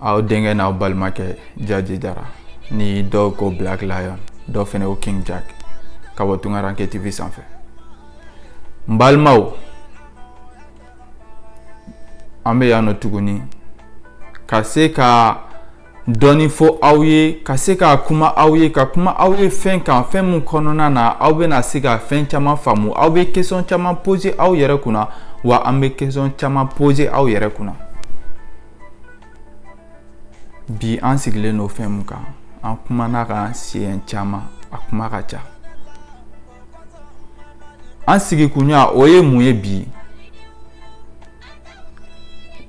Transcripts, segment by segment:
aw denkɛ n'aw balimakɛ jaji jara ni dɔw ko black lion dɔw fɛnɛ ko king jack ka bɔ tunkaranke tv sanfɛ n balimaw an bɛ yan nɔ tuguni ka se ka dɔɔni fɔ aw ye ka se ka kuma aw ye ka kuma aw ye fɛn kan fɛn min kɔnɔna na aw bɛna se ka fɛn caman faamu aw bɛ question caman poser aw yɛrɛ kunna wa an bɛ question caman poser aw yɛrɛ kunna bi an sigilen don fɛn mun kan an kumana a kan siɲɛ caman a kuma ka ca an sigikunya o ye mun ye bi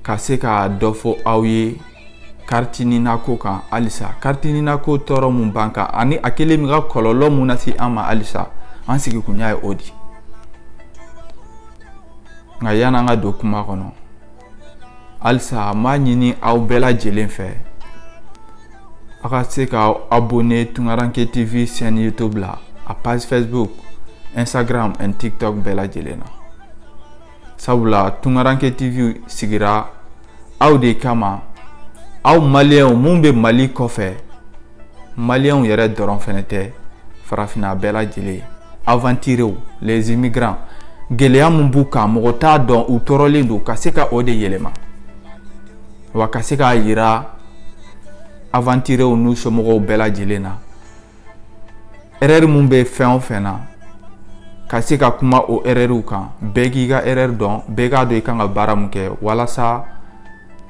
ka se ka dɔ fɔ aw ye kariti nina ko kan halisa kariti nina ko tɔɔrɔ mun b'an kan ani a kɛlen bɛ ka kɔlɔlɔ mun lase an ma halisa an sigikunya ye o de nka yan'an ka don kuma kɔnɔ halisa n b'a ɲini aw bɛɛ lajɛlen fɛ aw ka se k'aw abonner Tunkaranke TV chaîne YouTube la a page Facebook Instagram and TikTok bɛɛ lajɛlen na sabula Tunkaranke TV sigira aw de kama aw maliyɛnw mun bɛ Mali kɔfɛ Maliens yɛrɛ dɔrɔn fɛnɛ tɛ farafinna bɛɛ lajɛlen aventuriers les immigrants gɛlɛya min b'u kan mɔgɔ t'a dɔn u tɔɔrɔlen don ka se ka o de yɛlɛma wa ka se k'a yira aventuriers n'u somɔgɔw bɛɛ lajɛlen na erreur min bɛ fɛn o fɛn na ka se ka kuma o erreur kan bɛɛ k'i ka erreur dɔn bɛɛ k'a dɔn i kan ka baara min kɛ walasa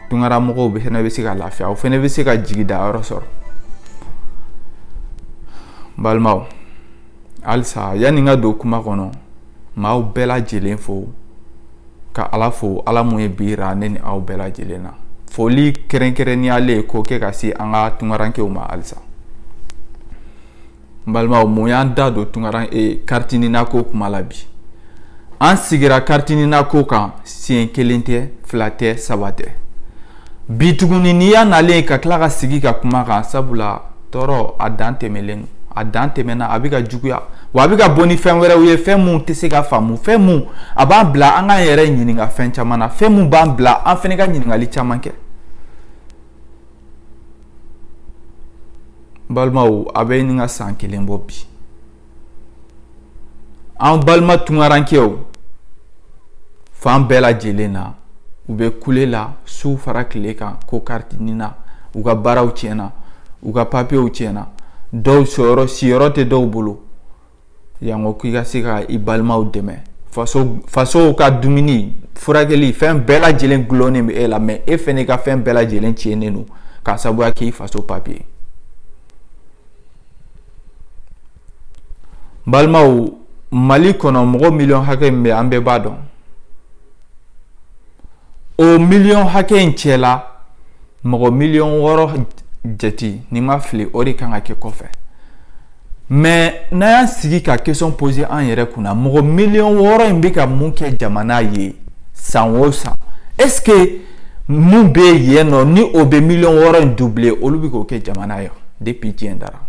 tunkara mɔgɔw bɛ fɛnɛ bɛ se ka lafiya o fɛnɛ bɛ se ka jigi da yɔrɔ sɔrɔ balimaw halisa yanni n ka don kuma kɔnɔ n b'aw bɛɛ lajɛlen fo ka ala fo ala mun ye bi yira ne ni aw bɛɛ lajɛlen na foli kɛrɛnkɛrɛnniyalen k'o kɛ ka se an ka tunkarankew ma halisa n balimaw mun y'an da don tunkaran e kariti nina ko kuma la bi an sigira kariti nina ko kan siɲɛ kelen tɛ fila tɛ saba tɛ bi tuguni n'i y'a nalen ka tila ka sigi ka kuma a kan sabula tɔɔrɔ a dan tɛmɛlen a dan tɛmɛna a bɛ ka juguya wa a bɛ ka bɔ ni fɛn wɛrɛw ye fɛn mun tɛ se ka faamu fɛn mun a b'an bila an k'an yɛrɛ ɲininka fɛn caman na fɛn mun b'an bila an fɛnɛ ka ɲininkali caman kɛ balimaw a bɛ ɲini ka san kelen bɔ bi an balima tunkarankew fan bɛɛ lajɛlen na u bɛ kule la su fara tile kan ko kariti nina u ka baaraw tiɲɛna u ka papiyew tiɲɛna dɔw siyɔrɔ siyɔrɔ tɛ dɔw bolo Yanko k'i ka se ka i balimaw dɛmɛ fasow ka dumuni furakɛli fɛn bɛɛ lajɛlen dulonnen bɛ e la mɛ e fana i ka fɛn bɛɛ lajɛlen tiɲɛnen don k'a sabuya k'i faso papiye balimaw mali kɔnɔ mɔgɔ miliyɔn hakɛ min bɛ an bɛɛ b'a dɔn o miliyɔn hakɛ in cɛ la mɔgɔ miliyɔn wɔɔrɔ jate ni n ma fili o de kan ka kɛ kɔfɛ mɛ n'an y'an sigi ka kesɔn pose an yɛrɛ kunna mɔgɔ miliyɔn wɔɔrɔ in bɛ ka mun kɛ jamana ye san o san ɛske mun bɛ yen nɔ ni o bɛ miliyɔn wɔɔrɔ in duble olu bɛ k'o kɛ jamana ye depuis diɲɛ dara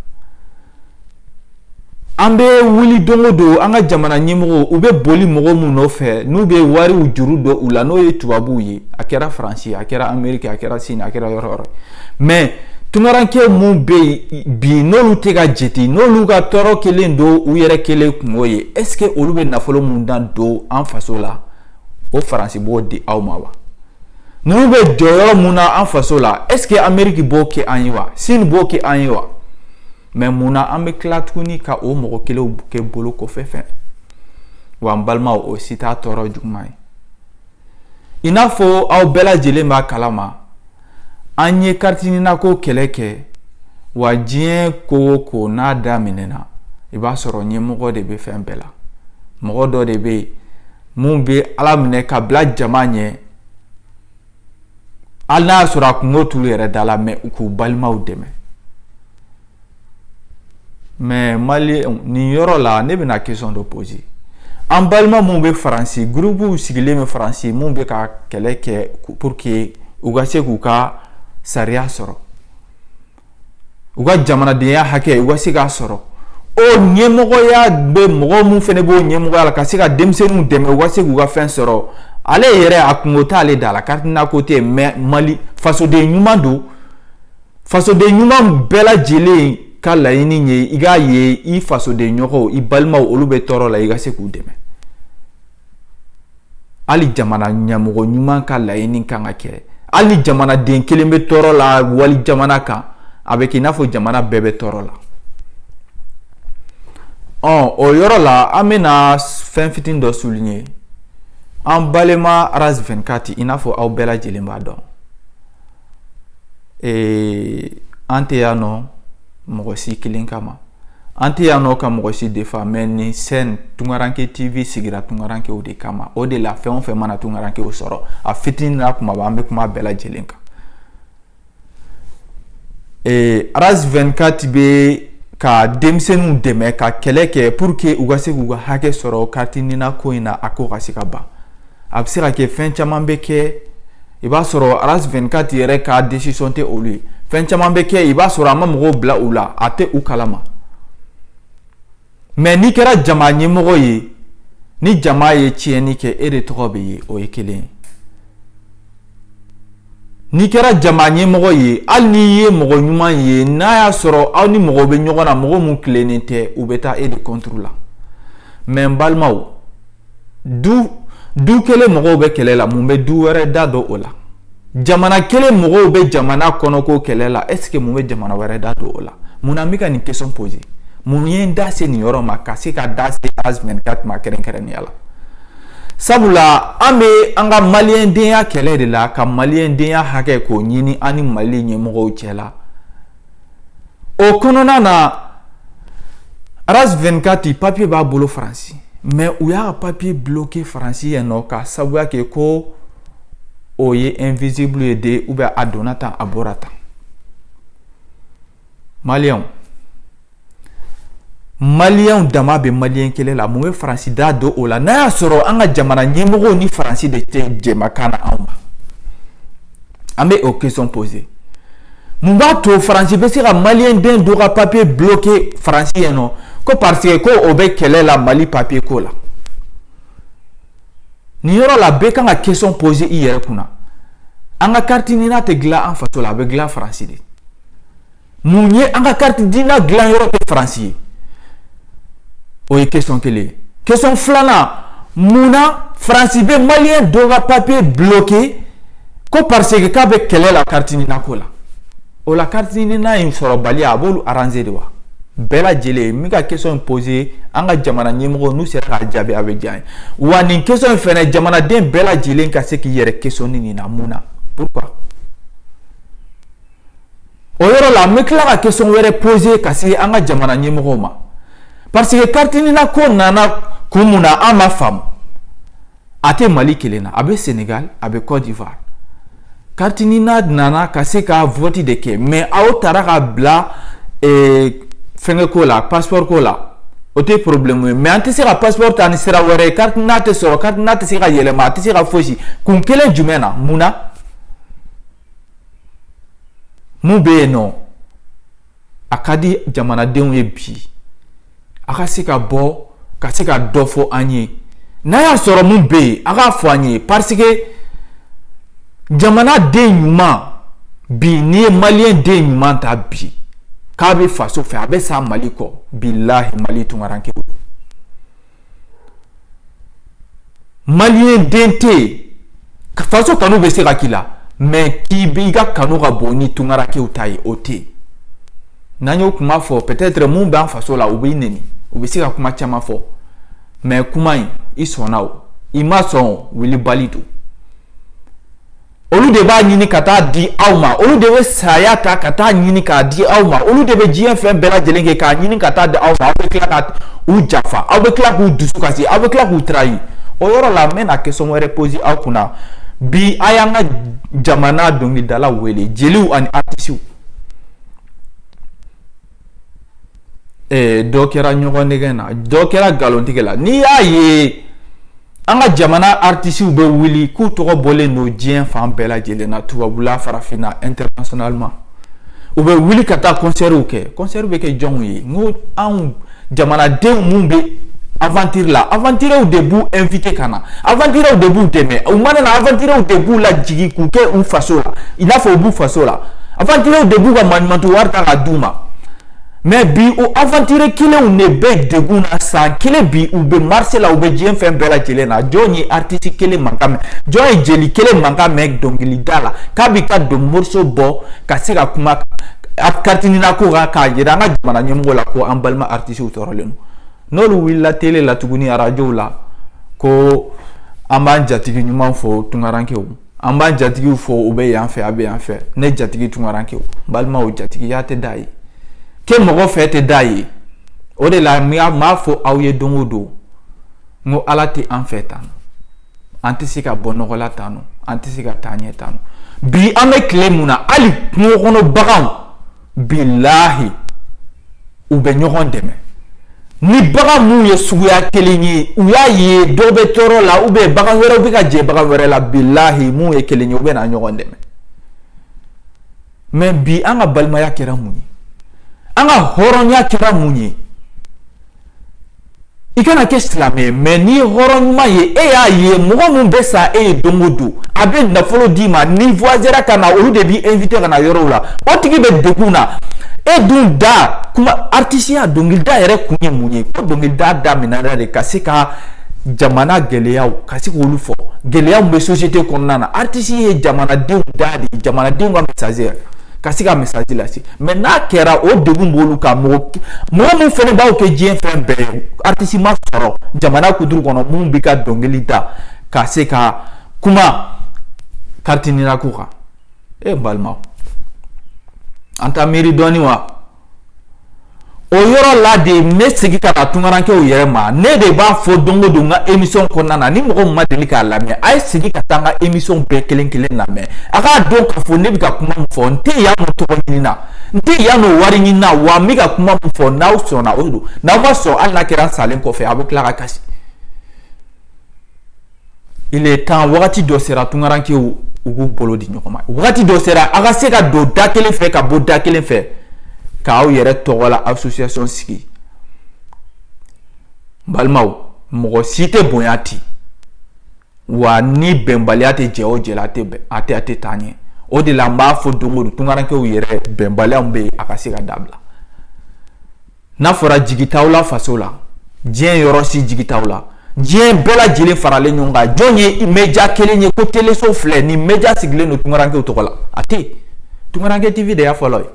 an bɛ wuli don o don an ka jamana ɲɛmɔgɔw u bɛ boli mɔgɔ min nɔfɛ n'u bɛ wariw juru don u la n'o ye tubabuw ye a kɛra faransi a kɛra ameriki a kɛra sini a kɛra yɔrɔ o yɔrɔ mɛ tunkaranke minnu bɛ yen bi n'olu tɛ ka jate n'olu ka tɔɔrɔ kelen don u yɛrɛ kelen kungo ye ɛske olu bɛ nafolo min dan don an faso la o faransi b'o di aw ma wa ninnu bɛ jɔyɔrɔ mun na an faso la ɛske ameriki b'o kɛ an ye wa sini b'o kɛ an ye wa mɛ mun na an bɛ tila tuguni ka o mɔgɔ kelenw kɛ bolokɔfɛfɛn wa an balimaw o si t'a tɔɔrɔ juguman ye i n'a fɔ aw bɛɛ lajɛlen b'a kalama an ye kariti nina ko kɛlɛ kɛ wa diɲɛ ko o ko n'a daminɛna i b'a sɔrɔ ɲɛmɔgɔ de bɛ fɛn bɛɛ la mɔgɔ dɔ de bɛ yen mun bɛ ala minɛ ka bila jama ɲɛ hali n'a y'a sɔrɔ a kungo t'olu yɛrɛ da la mɛ u k'u balimaw dɛmɛ mɛ maliyɛnw nin yɔrɔ la ne bɛna kesɔn dɔ pose an balima minnu bɛ faransi gurupuw sigilen bɛ faransi minnu bɛ ka kɛlɛ kɛ pour que u ka se k'u ka sariya sɔrɔ u ka jamanadenya hakɛ u ka se k'a sɔrɔ o ɲɛmɔgɔya bɛ mɔgɔ min fana b'o ɲɛmɔgɔya la ka se ka denmisɛnninw dɛmɛ u ka se k'u ka fɛn sɔrɔ ale yɛrɛ a kungo t'ale da la kariti nina ko tɛ mɛ mali fasoden ɲuman don fasoden ɲuman bɛɛ lajɛlen ka laɲini ye i k'a ye i fasoden ɲɔgɔnw i balimaw olu bɛ tɔɔrɔ la i ka se k'u dɛmɛ hali jamana ɲɛmɔgɔ ɲuman ka laɲini kan ka kɛ hali ni jamanaden kelen bɛ tɔɔrɔ la walijamana kan a bɛ kɛ i n'a fɔ jamana bɛɛ bɛ tɔɔrɔ la ɔ o yɔrɔ la an bɛna fɛn fitinin dɔ souligner an balima ras 24 i n'a fɔ aw bɛɛ lajɛlen b'a dɔn ee an tɛ yan nɔ mɔgɔ si kelen kama an tɛ yan nɔ ka mɔgɔ si defa mɛ nin chaîne Tunkaranke TV sigira tunkarankew de kama o de la fɛn o fɛn mana tunkarankew sɔrɔ a fitinin n'a kumaba an bɛ kuma bɛɛ lajɛlen kan ee Aras 24 bɛ ka denmisɛnninw dɛmɛ ka kɛlɛ kɛ pour que u ka se k'u ka hakɛ sɔrɔ kariti nina ko in na a ko ka se ka ban a bɛ se ka kɛ fɛn caman bɛ kɛ i b'a sɔrɔ Aras 24 yɛrɛ ka desisɔn tɛ olu ye fɛn caman bɛ kɛ i b'a sɔrɔ a ma mɔgɔw bila u la a tɛ u kalama mɛ n'i kɛra jama ɲɛmɔgɔ ye ni jama ye tiɲɛni kɛ e de tɔgɔ bɛ ye o ye kelen ye N'i kɛra jama ɲɛmɔgɔ ye hali n'i ye mɔgɔ ɲuman ye n'a y'a sɔrɔ aw ni mɔgɔ bɛ ɲɔgɔn na mɔgɔ minnu tilennen tɛ u bɛ taa e de contre la mɛ n balimaw du kelen mɔgɔw bɛ kɛlɛ la mun bɛ du wɛrɛ da don o la jamana kelen mɔgɔw bɛ jamana kɔnɔko kɛlɛ la ɛsike mun bɛ jamana wɛrɛ da don o la munna n bɛ ka nin kesɔn pose mun ye n da se nin yɔrɔ ma ka se ka da se Aras 24 ma kɛrɛnkɛrɛnnenya la sabula an bɛ an ka maliyɛndenya kɛlɛ de la ka maliyɛndenya hakɛ k'o ɲini an ni mali ɲɛmɔgɔw cɛ la o kɔnɔna na Aras 24 papiye b'a bolo faransi mɛ u y'a papiye bloke faransi yen nɔ ka sabuya kɛ ko o ye invisible ye de ubiyɛn a donna tan a bɔra tan Mali maliyɛnw dama bɛ mali kɛlɛ la mun bɛ faransi da don o la n'a y'a sɔrɔ an ka jamana ɲɛmɔgɔw ni faransi de tɛ jɛkan na anw ma an bɛ o kesɔn pose mun b'a to faransi bɛ se ka maliden dɔ ka papiye bloke faransi yen nɔ ko parce que ko o bɛ kɛlɛ la mali papiye ko la nin yɔrɔ la bɛɛ kan ka kesɔn pose i yɛrɛ kunna an ka kariti nina tɛ dilan an faso la a bɛ dilan faransi de mun ye an ka kariti nina dilan yɔrɔ kɛ faransi ye o ye kesɔn kelen ye kesɔn filanan mun na faransi bɛ maliyɛn dɔ ka papiye bloke ko pariseke k'a bɛ kɛlɛ la kariti nina ko la o la kariti nina in sɔrɔbaliya a b'olu aranze de wa bɛɛ lajɛlen n bɛ ka kesɔn in pose an ka jamana ɲɛmɔgɔw n'u sera k'a jaabi a bɛ diya n ye wa nin kesɔn in fana jamanaden bɛɛ lajɛlen ka se k'i yɛrɛ kesɔne nin na mun na pourquoi o yɔrɔ la n bɛ tila ka kesɔn wɛrɛ pose ka se an ka jamana ɲɛmɔgɔw ma parce que kariti nina ko nana kun mun na an m'a faamu a tɛ mali kelen na a bɛ senegal a bɛ côte d'ivoire kariti nina nana ka se ka vɔti de kɛ mɛ aw taara k'a bila eh, fɛnkɛ ko la passeport ko la o tɛ problème ye mɛ an tɛ se ka passeport ta ni sira wɛrɛ ye carte nina tɛ sɔrɔ carte nina tɛ se ka yɛlɛma a tɛ se ka fosi kun kelen jumɛn na mun na Mun bɛ yen nɔ a ka di jamanadenw ye bi a ka se ka bɔ ka se ka dɔ fɔ an ye n'a y'a sɔrɔ min bɛ yen a k'a fɔ an ye parce que jamanaden ɲuman bi n'i ye maliyɛn den ɲuman ta bi k'a bɛ faso fɛ a bɛ sa mali kɔ bilahi mali tunkarankew maliyɛn den tɛ yen faso kanu bɛ se ka k'i la mɛ k'i bɛ i ka kanu ka bon ni tunkarankew ta ye o tɛ yen n'an y'o kuma fɔ peut-être mun b'an faso la u b'i nɛni u bɛ se ka kuma caman fɔ mɛ kuma in i sɔnna o i ma sɔn o wulibali don olu de b'a ɲini ka taa di aw ma olu de bɛ saya ta ka taa ɲini k'a di aw ma olu de bɛ diɲɛ fɛn bɛɛ lajɛlen kɛ k'a ɲini ka taa di aw ma aw bɛ tila ka u jafa aw bɛ tila k'u dusu kasi aw bɛ tila k'u tarayi o yɔrɔ la n bɛna kesɔn wɛrɛ poze aw kunna bi a y'an ka jamana dɔnkilidala wele jeliw ani artisiw dɔ kɛra ɲɔgɔn nɛgɛn na dɔ kɛra nkalontigɛ la n'i y'a ye an ka jamana artisiw bɛ wuli k'u tɔgɔ bɔlen don diɲɛ fan bɛɛ lajɛlen na tubabula farafinna internationalement u bɛ wuli ka taa kɔnsɛriw kɛ kɔnsɛriw bɛ kɛ jɔnw ye n anw jamanadenw minnu bɛ avantiri la avantiriw de b'u invite ka na avantiriw de b'u dɛmɛ u mana na avantiriw de b'u lajigin k'u kɛ u faso la i n'a fɔ u b'u faso la Avantiriw de b'u ka mantu wari ta ka d'u ma mɛ bi o avantiri kelenw de bɛ degun na san kelen bi u bɛ marisi la u bɛ diɲɛ fɛn bɛɛ lajɛlen na jɔn ye artisi kelen mankan mɛn jɔn ye jeli kelen mankan mɛn dɔnkilidala k'a bɛ ka don moriso bɔ ka se ka kuma karti nina ko kan k'a jira an ka jamana ɲɛmɔgɔ la ko an balima artisiw tɔɔrɔlen n'olu wulila tele la tuguni arajo la ko an b'an jatigi ɲuman fo tunkarankew an b'an jatigiw fo u bɛ yan fɛ a bɛ yan fɛ ne jatigi tunkarankew balimaw jatigiya tɛ da ye kɛ mɔgɔ fɛ tɛ da ye o de la n m'a fɔ aw ye don o don n ko ala tɛ an fɛ tan an tɛ se ka bɔ nɔgɔ la tan an tɛ se ka taa ɲɛ tan bi an bɛ tile mun na hali kungo kɔnɔ baganw bilahi u bɛ ɲɔgɔn dɛmɛ ni bagan minnu ye suguya kelen ye u y'a ye dɔ bɛ tɔɔrɔ la u bɛ bagan wɛrɛw bɛ ka jɛ bagan wɛrɛ la bilahi minnu ye kelen ye u bɛ na ɲɔgɔn dɛmɛ mɛ bi an ka balimaya kɛra mun ye an ka hɔrɔnya kɛra mun ye i kana kɛ silamɛ ye mais n'i ye hɔrɔn ɲuman ye e y'a ye mɔgɔ min bɛ sa e ye don o don a bɛ nafolo d'i ma n'i voyagera ka na olu de b'i invité ka na yɔrɔw la o tigi bɛ degun na e dun da kuma artisiya dɔnkilida yɛrɛ kun ye mun ye ko dɔnkilida daminɛna de ka se ka jamana gɛlɛyaw ka se k'olu fɔ gɛlɛyaw bɛ société kɔnɔna na artisi ye jamanadenw da de ye jamanadenw ka message ka se ka message lase mais n'a kɛra o degun b'olu kan mɔgɔ min fɛnɛ b'aw kɛ diɲɛ fɛn bɛɛ ye artisi ma sɔrɔ jamana kuturu kɔnɔ min bɛ ka dɔnkili da ka se ka kuma carte NINA ko kan e balimaw an t'a miiri dɔɔni wa o yɔrɔ la de n bɛ segin ka na tunkarankew yɛrɛ ma ne de b'a fɔ don o don n ka émission kɔnɔna na ni mɔgɔ min ma deli k'a lamɛn a ye segin ka taa n ka émission bɛɛ kelen kelen lamɛn a k'a dɔn k'a fɔ ne bɛ ka kuma min fɔ n tɛ yan nɔ tɔgɔ ɲini na n tɛ yan nɔ wari ɲini na wa n bɛ ka kuma min fɔ n'aw sɔnna o don n'aw ma sɔn hali n'a kɛra n salen kɔfɛ a bɛ tila ka kasi. il est temps wagati dɔ sera tunkarankew u k'u bolo di ɲɔgɔn ma wagati dɔ sera a ka se ka don da kelen fɛ ka bɔ da kelen fɛ k'aw yɛrɛ tɔgɔ la association sigi n balimaw mɔgɔ si tɛ bonya ten wa ni bɛnbaliya tɛ jɛ o jɛ la a tɛ taa ɲɛ o de la n b'a fɔ don o don tunkarankew yɛrɛ bɛnbaliyaw bɛ yen a ka se ka dabila n'a fɔra jigi t'aw la faso la diɲɛ yɔrɔ si jigi t'aw la diɲɛ bɛɛ lajɛlen faralen ɲɔgɔn kan jɔn ye média kelen ye ko téléso filɛ ni média sigilen don tunkarankew tɔgɔ la a tɛ tunkaranke TV de y'a fɔlɔ ye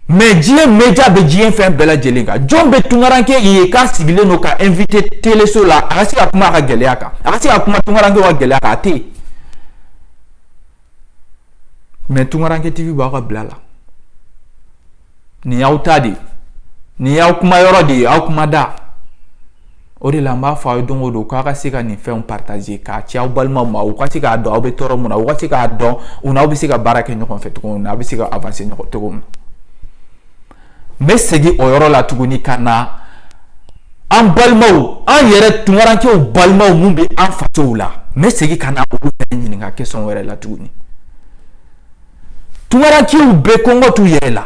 mais diɲɛ média bɛ diɲɛ fɛn bɛɛ lajɛlen kan jɔn bɛ tunkaranke ye k'a sigilen don k'a invité téléso la a ka se ka kuma a ka gɛlɛya kan a ka se ka kuma tunkarankew ka gɛlɛya kan a tɛ mais tunkaranke TV b'aw ka bila la nin y'aw ta de nin y'aw kuma yɔrɔ de ye aw kuma da o de la n b'a fɔ aw ye don o don k'a ka se ka nin fɛnw partagé k'a ci aw balimaw ma u ka se k'a dɔn aw bɛ tɔɔrɔ min na u ka se k'a dɔn u n'aw bɛ se ka baara kɛ ɲɔgɔn fɛ cogo min na aw bɛ se ka avancé ɲɔgɔn cogo min na n bɛ segin o yɔrɔ la tuguni ka na an balimaw an yɛrɛ tunkarankew balimaw minnu bɛ an fasow la n bɛ segin ka na olu fɛnɛ ɲininka question wɛrɛ la tuguni tunkarankew bɛ kɔngɔ t'u yɛrɛ la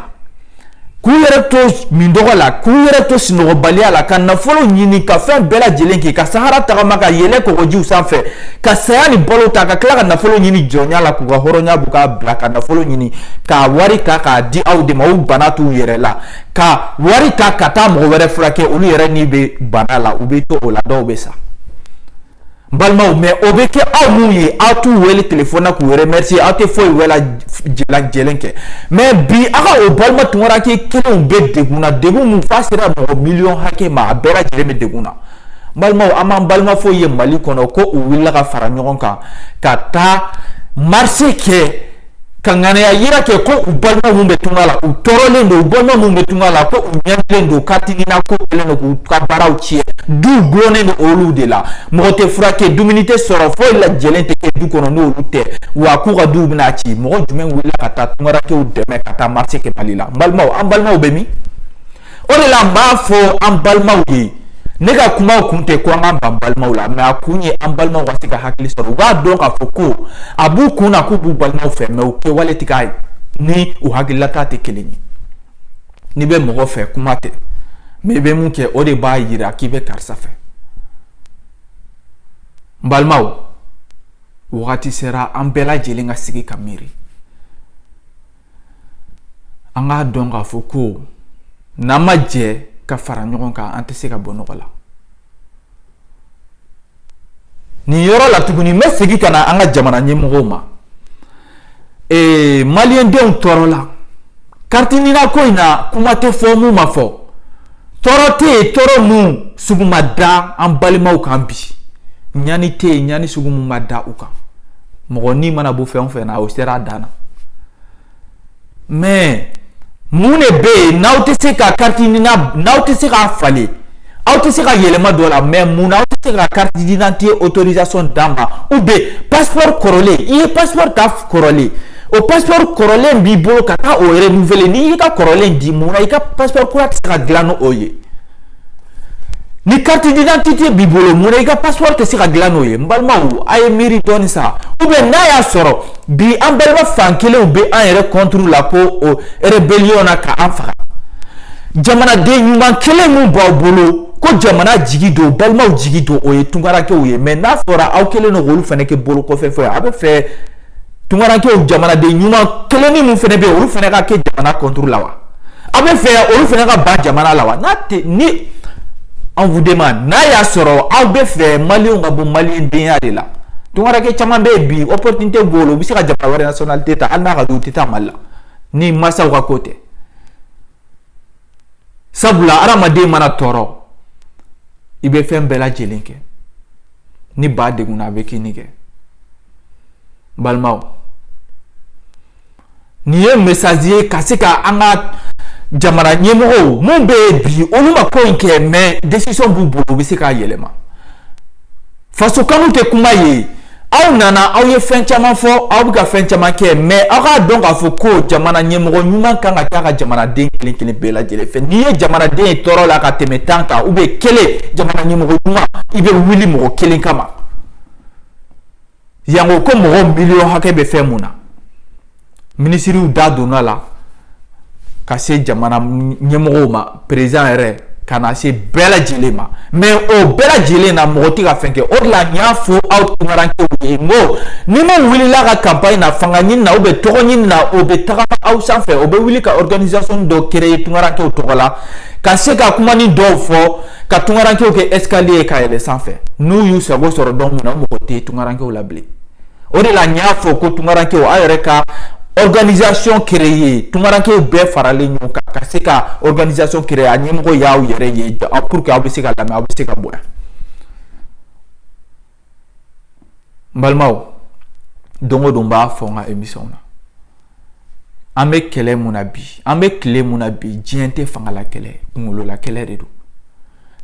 k'u yɛrɛ to mindɔgɔ la k'u yɛrɛ to sunɔgɔbaliya la ka nafolo ɲini ka fɛn bɛɛ lajɛlen kɛ ka sahara tagama ka yɛlɛ kɔgɔjiw sanfɛ ka saya ni balo ta ka tila ka nafolo ɲini jɔnya la k'u ka hɔrɔnya bɔ k'a bila ka nafolo ɲini ka wari ta k'a di aw de ma u bana t'u yɛrɛ la ka wari ta ka taa mɔgɔ wɛrɛ furakɛ olu yɛrɛ n'i bɛ bana la u bɛ to o la dɔw bɛ sa n balimaw mais o bɛ kɛ aw minnu ye aw t'u wele telefɔni na k'u remercier aw tɛ foyi bɛɛ lajɛlen kɛ mais bi aw ka o balima tunkaranke kelenw bɛ degun na degun min f'a sera mɔgɔ miliyɔn hakɛ ma a bɛɛ lajɛlen bɛ degun na balimaw an m'an balima foyi ye mali kɔnɔ ko u wulila ka fara ɲɔgɔn kan ka taa marisi kɛ ka ŋaniya yira kɛ ko u balima minnu bɛ tunga la u tɔɔrɔlen don u balima minnu bɛ tunga la ko u ɲɛninen don kariti nina ko kɛlen don k'u ka baaraw tiɲɛ duw dulonnen don olu de la mɔgɔ tɛ furakɛ dumuni tɛ sɔrɔ foyi lajɛlen tɛ kɛ du kɔnɔ n'olu tɛ wa k'u ka duw bɛna ci mɔgɔ jumɛn wulila ka taa tunkarankew dɛmɛ ka taa marisi kɛ mali la n balimaw an balimaw bɛ min o de la n b'a fɔ an balimaw ye ne ka kuma kun tɛ ko an ka ban balimaw la mais a kun ye an balimaw ka se ka hakili sɔrɔ u b'a dɔn k'a fɔ ko a b'u kun na k'u b'u balimaw fɛ mais u kɛwale tɛ k'a ni u hakililata tɛ kelen ye n'i bɛ mɔgɔ fɛ kuma tɛ mais i bɛ min kɛ o de b'a yira k'i bɛ karisa fɛ n balimaw wagati sera an bɛɛ lajɛlen ka sigi ka miiri an k'a dɔn k'a fɔ ko n'an ma jɛ ka fara ɲɔgɔn kan an tɛ se ka bɔ nɔgɔ la nin yɔrɔ la tuguni n bɛ segin ka na an ka jamana ɲɛmɔgɔw ma ee maliyɛndenw tɔɔrɔ la kariti nina ko in na kuma tɛ fɔ mun ma fɔ tɔɔrɔ tɛ yen tɔɔrɔ mun sugu ma da an balimaw kan bi ɲani tɛ yen ɲani sugu mun ma da u kan mɔgɔ ni mana bɔ fɛn o fɛn na o sera a dan na mais mun de bɛ yen n'aw tɛ se ka kariti nina n'aw tɛ se k'a falen aw tɛ se ka yɛlɛma don a la mais mun na aw tɛ se ka carte d'identité autorisation d'an ma ou bien passeport kɔrɔlen i ye passeport ta kɔrɔlen o passeport kɔrɔlen b'i bolo ka taa o renouveler n'i y'i ka kɔrɔlen di mun na i ka passeport kura tɛ se ka dilan n'o ye ni carte d'identité b'i bolo mun na i ka passeport tɛ se ka dilan n'o ye n balimaw a ye miiri dɔɔni sa ou bien n'a y'a sɔrɔ bi an balima fan kelenw bɛ an yɛrɛ contre la ko o rébellion na ka an faga jamanaden ɲuman kelen min b'aw bolo ko jamana jigi don balimaw jigi don o ye tunkarankew ye mais n'a fɔra aw kelen don k'olu fana kɛ bolo kɔfɛ fɛn ye a bɛ fɛ tunkarankew jamanaden ɲuman kelenni min fana bɛ yen olu fana ka kɛ jamana contre la wa aw bɛ fɛ olu fana ka ban jamana la wa n'a tɛ ni on vous demande n'a y'a sɔrɔ aw bɛ fɛ maliyɛnw ka bɔ maliyɛndenya de la tunkaranke caman bɛ yen bi opportunité b'u bolo u bɛ se ka jamana wɛrɛ nationalité ta hali n'a ka d'u tɛ taa mali la ni mansaw ka ko tɛ sabula adamaden mana tɔɔrɔ i bɛ fɛn bɛɛ lajɛlen kɛ ni ba degunna a bɛ kinni kɛ balimaw nin ye mesazi ye ka se ka an ka jamana ɲɛmɔgɔw mun bɛ yen bi olu ma ko in kɛ mɛ desisɔn b'u bolo u bɛ se k'a yɛlɛma faso kanu tɛ kuma ye aw nana aw ye fɛn caman fɔ aw bɛ ka fɛn caman kɛ mɛ aw k'a dɔn k'a fɔ ko jamana ɲɛmɔgɔ ɲuman kan ka t'a ka jamanaden kelen kelen bɛɛ lajɛlen fɛ n'i ye jamanaden ye tɔɔrɔ la ka tɛmɛ tan kan ou bien kelen jamana ɲɛmɔgɔ ɲuman i bɛ wuli mɔgɔ kelen kama yanko ko mɔgɔ miliyɔn hakɛ bɛ fɛn mun na minisiriw da donna la ka se jamana ɲɛmɔgɔw ma perezidan yɛrɛ ka na se bɛɛ lajɛlen ma mɛ o bɛɛ lajɛlen na mɔgɔ tɛ ka fɛn kɛ o de la n y'a fɔ aw tunkarankew ye n ko ni min wulila ka kanpaɲi na fanga ɲini na ou bien tɔgɔ ɲini na o bɛ tagama aw sanfɛ o bɛ wuli ka organisation dɔ créer tunkarankew tɔgɔ la ka se ka kumanin dɔw fɔ ka tunkarankew kɛ escalier ye ka yɛlɛn sanfɛ n'u y'u sago sɔrɔ don min na mɔgɔ tɛ tunkarankew la bilen o de la n y'a fɔ ko tunkarankew aw yɛrɛ ka organisation créer tunkarankew bɛɛ faralen ɲɔgɔn kan ka se ka organisation créer a ɲɛmɔgɔ y'aw yɛrɛ ye pour que aw bɛ se ka lamɛn aw bɛ se ka bonya n balimaw don o don n b'a fɔ n ka émission na an bɛ kɛlɛ mun na bi an bɛ tile mun na bi diɲɛ tɛ fangala kɛlɛ kunkololakɛlɛ de don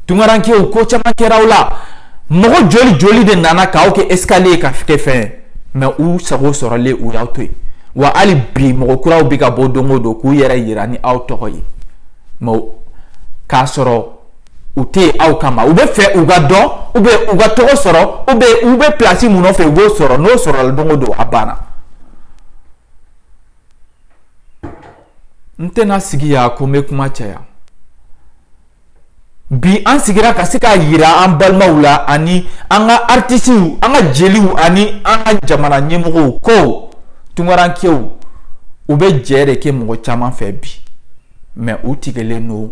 tunkarankew ko caman kɛra aw la mɔgɔ joli joli de nana k'aw kɛ escalier ka kɛ fɛn mɛ u sago sɔrɔlen u y'aw to yen wa hali bi mɔgɔ kuraw bɛ ka bɔ don o don k'u yɛrɛ yira ni aw tɔgɔ ye mɛ k'a sɔrɔ u tɛ yen aw kama u bɛ fɛ u ka dɔn ou bien u ka tɔgɔ sɔrɔ ou bien u bɛ pilasi mun nɔfɛ u b'o sɔrɔ n'o sɔrɔla don o don a banna n tɛna sigi yan ko n bɛ kuma caya bi an sigira ka se k'a yira an balimaw la ani an ka aritisiw an ka jeliw ani an ka jamana ɲɛmɔgɔw ko tunkarankew u bɛ jɛ de kɛ mɔgɔ caman fɛ bi mɛ u tigɛlen don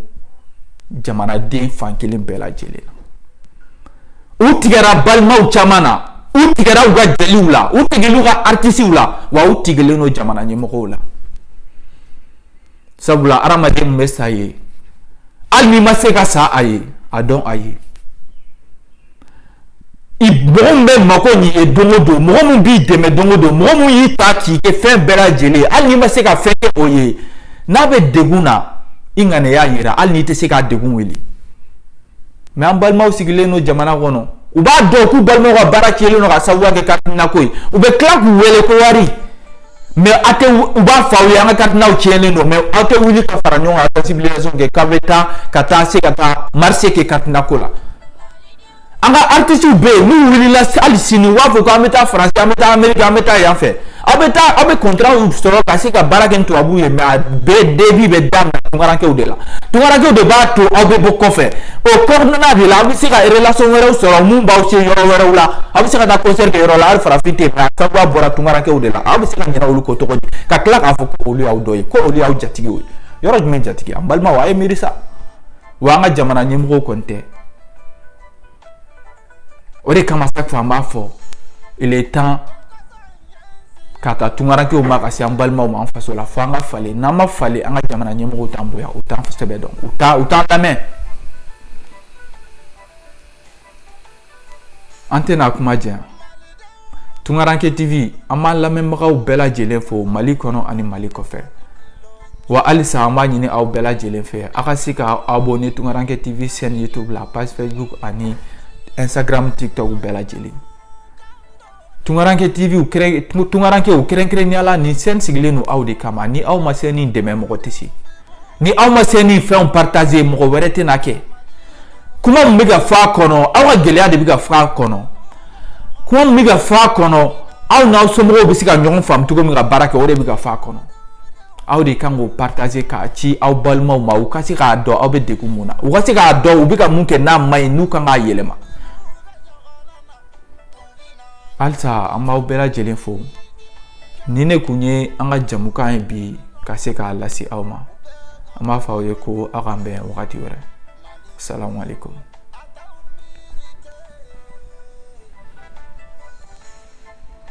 jamanaden fan kelen bɛɛ lajɛlen na u tigɛra balimaw caman na u tigɛra u ka jeliw la u tigɛra u ka aritisiw la wa u tigɛlen don jamana ɲɛmɔgɔw la sabula hadamaden min bɛ sa i ye hali n'i ma se ka sa a ye a dɔn a ye mɔgɔ min bɛ mako ɲ'i ye don o don mɔgɔ min b'i dɛmɛ don o don mɔgɔ min y'i ta k'i kɛ fɛn bɛɛ lajɛlen ye hali n'i ma se ka fɛn kɛ o ye n'a bɛ degun na i ŋaniya yira hali n'i tɛ se k'a degun wuli mɛ an balimaw sigilen don jamana kɔnɔ u b'a dɔn k'u balimaw ka baara tiɲɛlen don ka sababuya kɛ kakiminako ye u bɛ tila k'u wele ko wari mais a tɛ u b'a fɔ aw ye an ka carte NINAw tiɲɛnen don mais aw tɛ wuli ka fara ɲɔgɔn kan ka sensibilisation kɛ k'aw bɛ taa ka taa se ka taa marché kɛ carte NINA ko la an ka artistes bɛ yen n'u wulila hali sini u b'a fɔ k'an bɛ taa faransi an bɛ taa ameriki an bɛ taa yan fɛ aw bɛ taa aw bɛ contrat sɔrɔ ka se ka baara kɛ ni tubabuw ye mais a bɛɛ début bɛ daminɛ tunkarankew de la Tunkarankew de b'a to aw bɛ bɔ kɔfɛ o kɔnɔna de la aw bɛ se ka relation wɛrɛw sɔrɔ mun b'aw se yɔrɔ wɛrɛw la aw bɛ se ka taa concert kɛ yɔrɔ la hali farafin tɛ yen mais a sababuya bɔra tunkarankew de la aw bɛ se ka ɲinɛ olu kɔ cogo di ka tila k'a fɔ ko olu y'aw dɔ ye ko olu y'aw jatigiw ye yɔrɔ jumɛn jatigi an balimaw a ye miiri sa wa an ka jamana ɲɛmɔgɔw kɔni tɛ o de kama chaque fois an b'a fɔ il est temps k'a ta tungarankew ma ka se an balimaw ma an faso la fo an ka falen n'an ma falen an ka jamana ɲɛmɔgɔw t'an bonya u t'an sɛbɛ dɔn u t'a u t'an lamɛn an tɛna kuma janya tunkaranke tv an b'an lamɛnbagaw bɛɛ lajɛlen fo mali kɔnɔ ani mali kɔfɛ wa halisa an b'a ɲini aw bɛɛ lajɛlen fɛ aw ka se ka abonner tunkaranke tv chaîne youtube la page facebook ani instagram tiktok bɛɛ lajɛlen tunkaranke tv tunkarankew kɛrɛnkɛrɛnnenya la nin chaîne sigilen don aw de kama ni aw ma chaîne nin dɛmɛ mɔgɔ tɛ se ni aw ma chaîne nin fɛnw partager mɔgɔ wɛrɛ tɛna kɛ kuma min bɛ ka fɔ a kɔnɔ aw ka gɛlɛya de bɛ ka fɔ a kɔnɔ kuma min bɛ ka fɔ a kɔnɔ aw n'aw somɔgɔw bɛ se ka ɲɔgɔn faamu cogo min ka baara kɛ o de bɛ ka fɔ a kɔnɔ aw de kan k'o partager k'a ci aw balimaw ma u ka se k'a dɔn aw bɛ degun mun na u ka se k'a dɔn u bɛ ka mun kɛ n'a man ɲi n'u kan k'a yɛlɛma halisa an b'aw bɛɛ lajɛlen fo nin de kun ye an ka jamukan ye bi ka se k'a lase aw ma an b'a fɔ aw ye ko aw k'an bɛn wagati wɛrɛ salamu aleykum